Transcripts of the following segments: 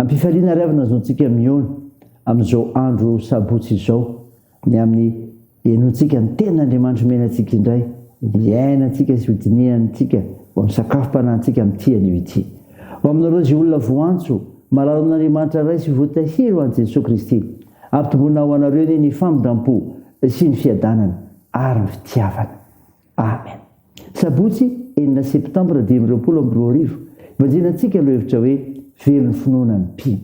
Ampifaliana ary avy no azontsika mihaona amin'izao andro sabotsy izao ny amin'ny henoantsika ny tenin'Andriamanitra omena antsika indray hiainantsika sy hodinihany antsika ho amin'ny sakafom-panahintsika amin'ity anio ity. Ho aminareo izay olona voantso, marary amin'Andriamanitra Ray sy voatahiry ho an'i Jesoa Kristy, ampitomboina ho anareo anie ny famindrampo sy ny fiadanana ary ny fitiavana. Amen. Sabotsy enina septambra dimy amby roapolo amby roa arivo, ibanjina antsika lohevitra hoe Velo ny finoana ny mpino.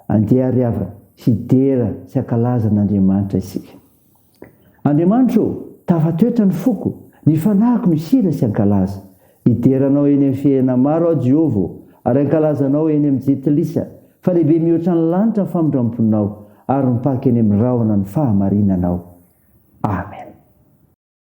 Andeha àry havana, hidera sy hankalaza an'Andriamanitra isika. Andriamanitra ô, tafatoetra ny foko, ny fanahiko no hihira sy hankalaza. Hidera Anao eny amin'ny fihena maro aho Jehovah ô, ary hankalaza Anao eny amin'ny jentilisa, fa lehibe mihoatra ny lanitra ny famindram-ponao, ary mipaka eny amin'ny rahona ny fahamarinanao. Amen.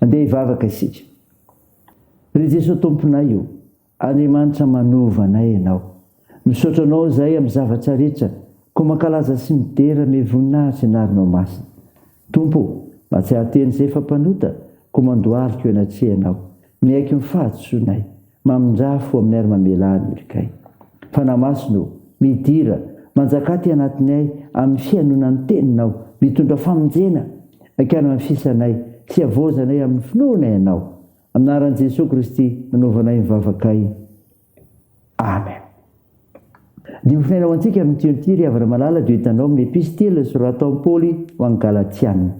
Andeha hivavaka isika. Ry Jesoa Tomponay o, Andriamanitra manova anay Ianao. Misaotra Anao izahay amin'ny zavatra rehetra, koa mankalaza sy midera amin'ny voninahitry ny anaranao masina. Tompo o, mahatsiaro tena izay fa mpanota, koa mandohalika eo anatrehanao. Miaiky ny fahadisoanay. Mamindrà fo aminay ary mamelà ny olikay. Fanahy Masina ô, midira, manjaka aty anatinay amin'ny fihainoana ny Teninao, mitondra famonjena hankany amin'ny fisanay sy havaozanay amin'ny finoana Ianao. Amin'ny anaran'i Jesoa Kristy nanaovanay ny vavakay. Amen. Ny ofonay ho antsika amin' ity ity, ry havana malala, dia hitanao amin' ny Episitila soratan'i Paoly ho an' ny Galatiana.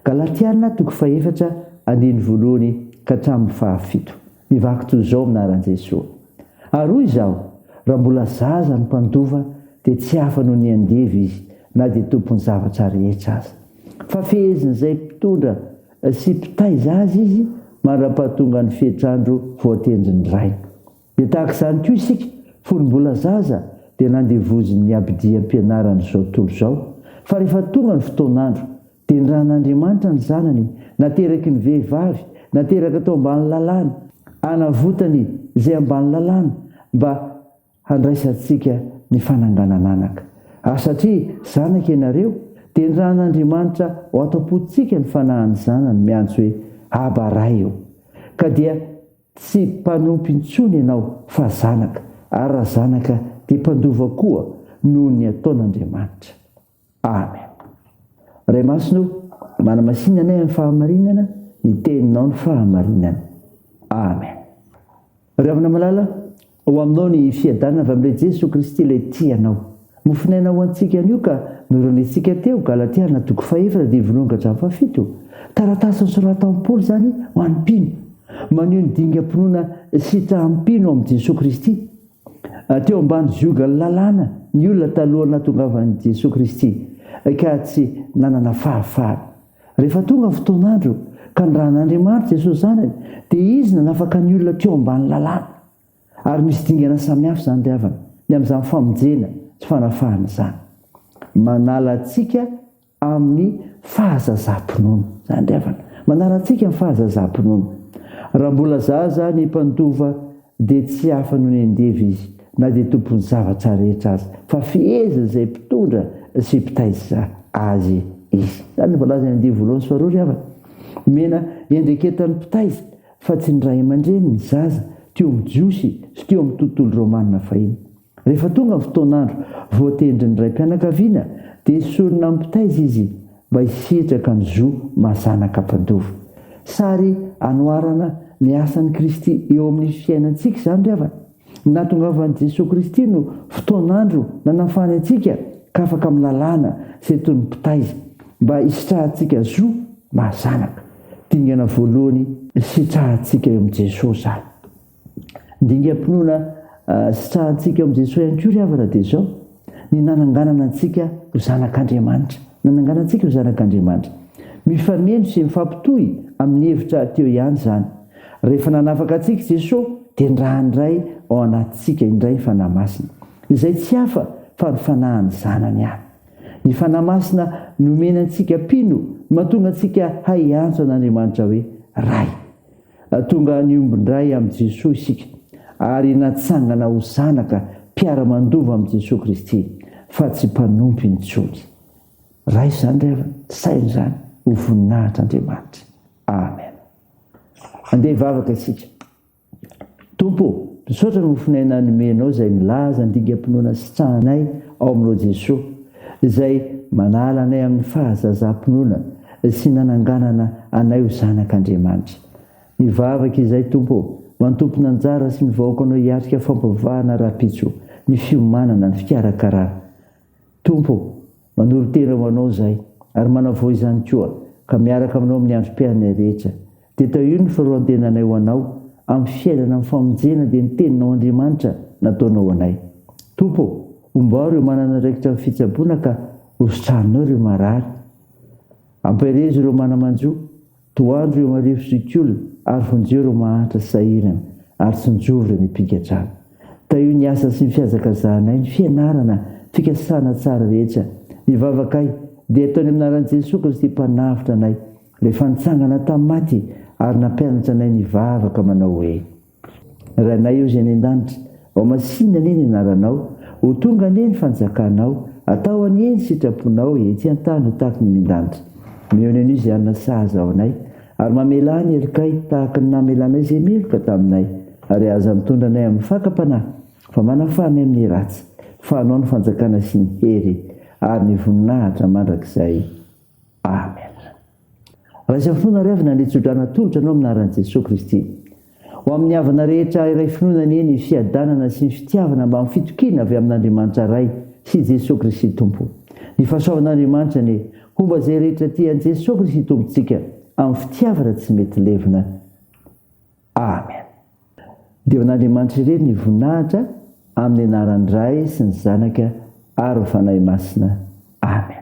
Galatiana, toko fahefatra, andininy voalohany ka hatramin' ny fahafito. Mivaky toy izao amin' anaran' Jesoa. Ary hoy izaho, Raha mbola zaza ny mpandova, dia tsy hafa noho ny andevo izy, na dia tompon' ny zavatra rehetra aza. Fa fehezin' izay mpitondra sy mpitaiza azy izy mandra-pahatongan' ny fetran-dro voatendrin' ny rainy. Dia tahaka izany koa isika, fony mbola zaza dia nandevozin'ny abidiam-pianarana izao tontolo izao, fa rehefa tonga ny fotoan'andro, dia nirahan'Andriamanitra ny Zanany nateraky ny vehivavy, nateraka tao ambany lalàna, hanavotany izay ambany lalàna mba handraisantsika ny fananganan'anaka. Ary satria zanaka ianareo, dia nirahan'Andriamanitra ao an-tampontsika ny fanahin'ny Zanany miantso hoe, Aba Ray ô! Ka dia. Tsy mpanompo intsony ianao fa zanaka, ary raha zanaka dia mpandova koa noho ny ataon'Andriamanitra. Amen. Ray Masina ô, manamasina anay amin'ny fahamarinana, ny Teninao no fahamarinana. Amen. Ry havana malala, Ho aminao ny fiadanana avy amin'ilay Jesoa Kristy ilay tia anao. Mofon'aina ho antsika anio ka noranesintsika teo, Galatiana toko fahefatra dimy voalohany ka hatramin'ny fahafito. Taratasy nosoratan'i Paoly izany ho an'ny mpino. Maneho ny dingam-pinoana sitrahan'ny mpino amin'i Jesoa Kristy. Teo ambany ziogan'ny lalàna ny olona talohan'ny nahatongavan'i Jesoa Kristy ka tsy nanana fahafahana. Rehefa tonga ny fotoan'andro ka nirahan'Andriamanitra Jesosy Zanany, dia Izy nanafaka ny olona teo ambany lalàna. Ary misy dingana samihafa izany ry havana, ny amin'izany famonjena sy fanafahana izany. Manala antsika amin'ny fahazazam-pinoana izany ry havana. Manala antsika amin'ny fahazazam-pinoana. Raha mbola zaza ny mpandova, dia tsy hafa noho ny andevo izy, na dia tompon'ny zavatra rehetra aza, fa fehezin'izay mpitondra sy mpitaiza azy izy. Izany no voalazan'ny andivo voalohany sy faharoa, ry havana. Omena iandraiketan'ny mpitaiza, fa tsy ny ray aman-dreny, ny zaza, teo amin'ny Jiosy sy teo amin'ny tontolo romanina fahiny. Rehefa tonga ny fotoan'andro voatendrin'ny raim-pianakaviana dia esorina amin'ny mpitaiza izy mba hisitraka ny zo maha zanaka mpandoa. Sary anoharana ny asan'i Kristy eo amin'ny fiainantsika izany ry havana. Ny nahatongavan'i Jesoa Kristy no fotoan'andro nanafany antsika ka afaka amin'ny lalàna izay toy ny mpitaiza mba hisitrahantsika zo maha zanaka. Dingana voalohany isitrahantsika eo amin'i Jesoa izany. Dingam-pinoana sitrahantsika ao amin'i Jesoa ihany koa ry havana dia izao, ny nananganana antsika ho zanak'Andriamanitra. Nanangana antsika ho zanak'Andriamanitra. Mifaneno sy mifampitohy amin'ny hevitra teo ihany izany. Rehefa nanafaka antsika i Jesoa dia niraha indray ao anatintsika indray ny Fanahy Masina. Izay tsy hafa fa ny Fanahin'ny Zanany ihany. Ny Fanahy Masina nomena antsika mpino no mahatonga antsika hay hiantso an'Andriamanitra hoe Ray. Tonga niombon-dray amin'i Jesoa isika ary natsangana ho zanaka mpiara-mandova amin'i Jesoa Kristy fa tsy mpanompo intsony. Raha izany indray aza, saino izany ho voninahitr'Andriamanitra. Amen. Andeha hivavaka isika. Tompo ô, misaotra ny mofonay na nomenao izay milaza ny dingam-pinoana sitrahanay ao aminao Jesoa, izay manala anay amin'ny fahazazam-pinoana sy nananganana anay ho zanak' Andriamanitra. Mivavaka izahay Tompo ô, mba ny tompon'anjara sy ny vahoakanao hiatrika fampivahana rahampitso, ny fiomanana, ny fikarakarana. Tompo ô, manoro-tena ho Anao izahay, ary manavao izany koa, ka miaraka aminao amin'ny androm-piainanay rehetra. Dia tahio ny faroan-tenanay ho Anao, amin'ny fiainana amin'ny famonjena dia ny Teninao Andriamanitra nataonao ho anay. Tompo ô, homba aho ireo manana andraikitra amin'ny fitsaboana ka hositraninao ireo marary. Ampaherezo ireo mana-manjo, Tohandro eo marivo zokiolona ary vonjeo ireo mahantra sahirana ary sinjovo ireo mipigadrana. Tahio ny asa sy ny fihazakazahanay, ny fianarana, fikasana tsara rehetra. Ny vavakay dia ataony amin'ny anaran'i Jesoa Kristy Mpanavotra anay, Ilay fa nitsangana tamin'ny maty ary nampianatra anay nivavaka manao hoe. Rainay Ozy any an-danitra, ao masina anie ny anaranao, ho tonga anie ny fanjakanao, atao anie ny sitraponao ety an-tany ho tahaka ny mindanitra. Mihaona an'io izay hanana sahaza ao anay, ary mamelà ny helokay tahaka ny namelanay izay meloka taminay, ary aza mitondra anay amin'ny fakam-panahy, fa manafaha anay amin'ny ratsy, fa anao ny fanjakana sy ny hery, ary ny voninahitra mandrakizay. Amen. Raisa finoana ary avy nandria tsodrano atolotra anao amin'ny anaran'i Jesoa Kristy. Ho amin'ny havana rehetra iray finoana anie ny fiadanana sy ny fitiavana mbamin'ny fitokiana avy amin'Andriamanitra Ray sy i Jesoa Kristy Tompo. Ny fahasoavan'Andriamanitra anie homba izay rehetra tia an'i Jesoa Kristy Tompontsika amin'ny fitiavana tsy mety levona. Amen. Dia ho an'Andriamanitra irery ny voninahitra amin'ny anaran'ny Ray sy ny Zanaka ary ny Fanahy Masina. Amen.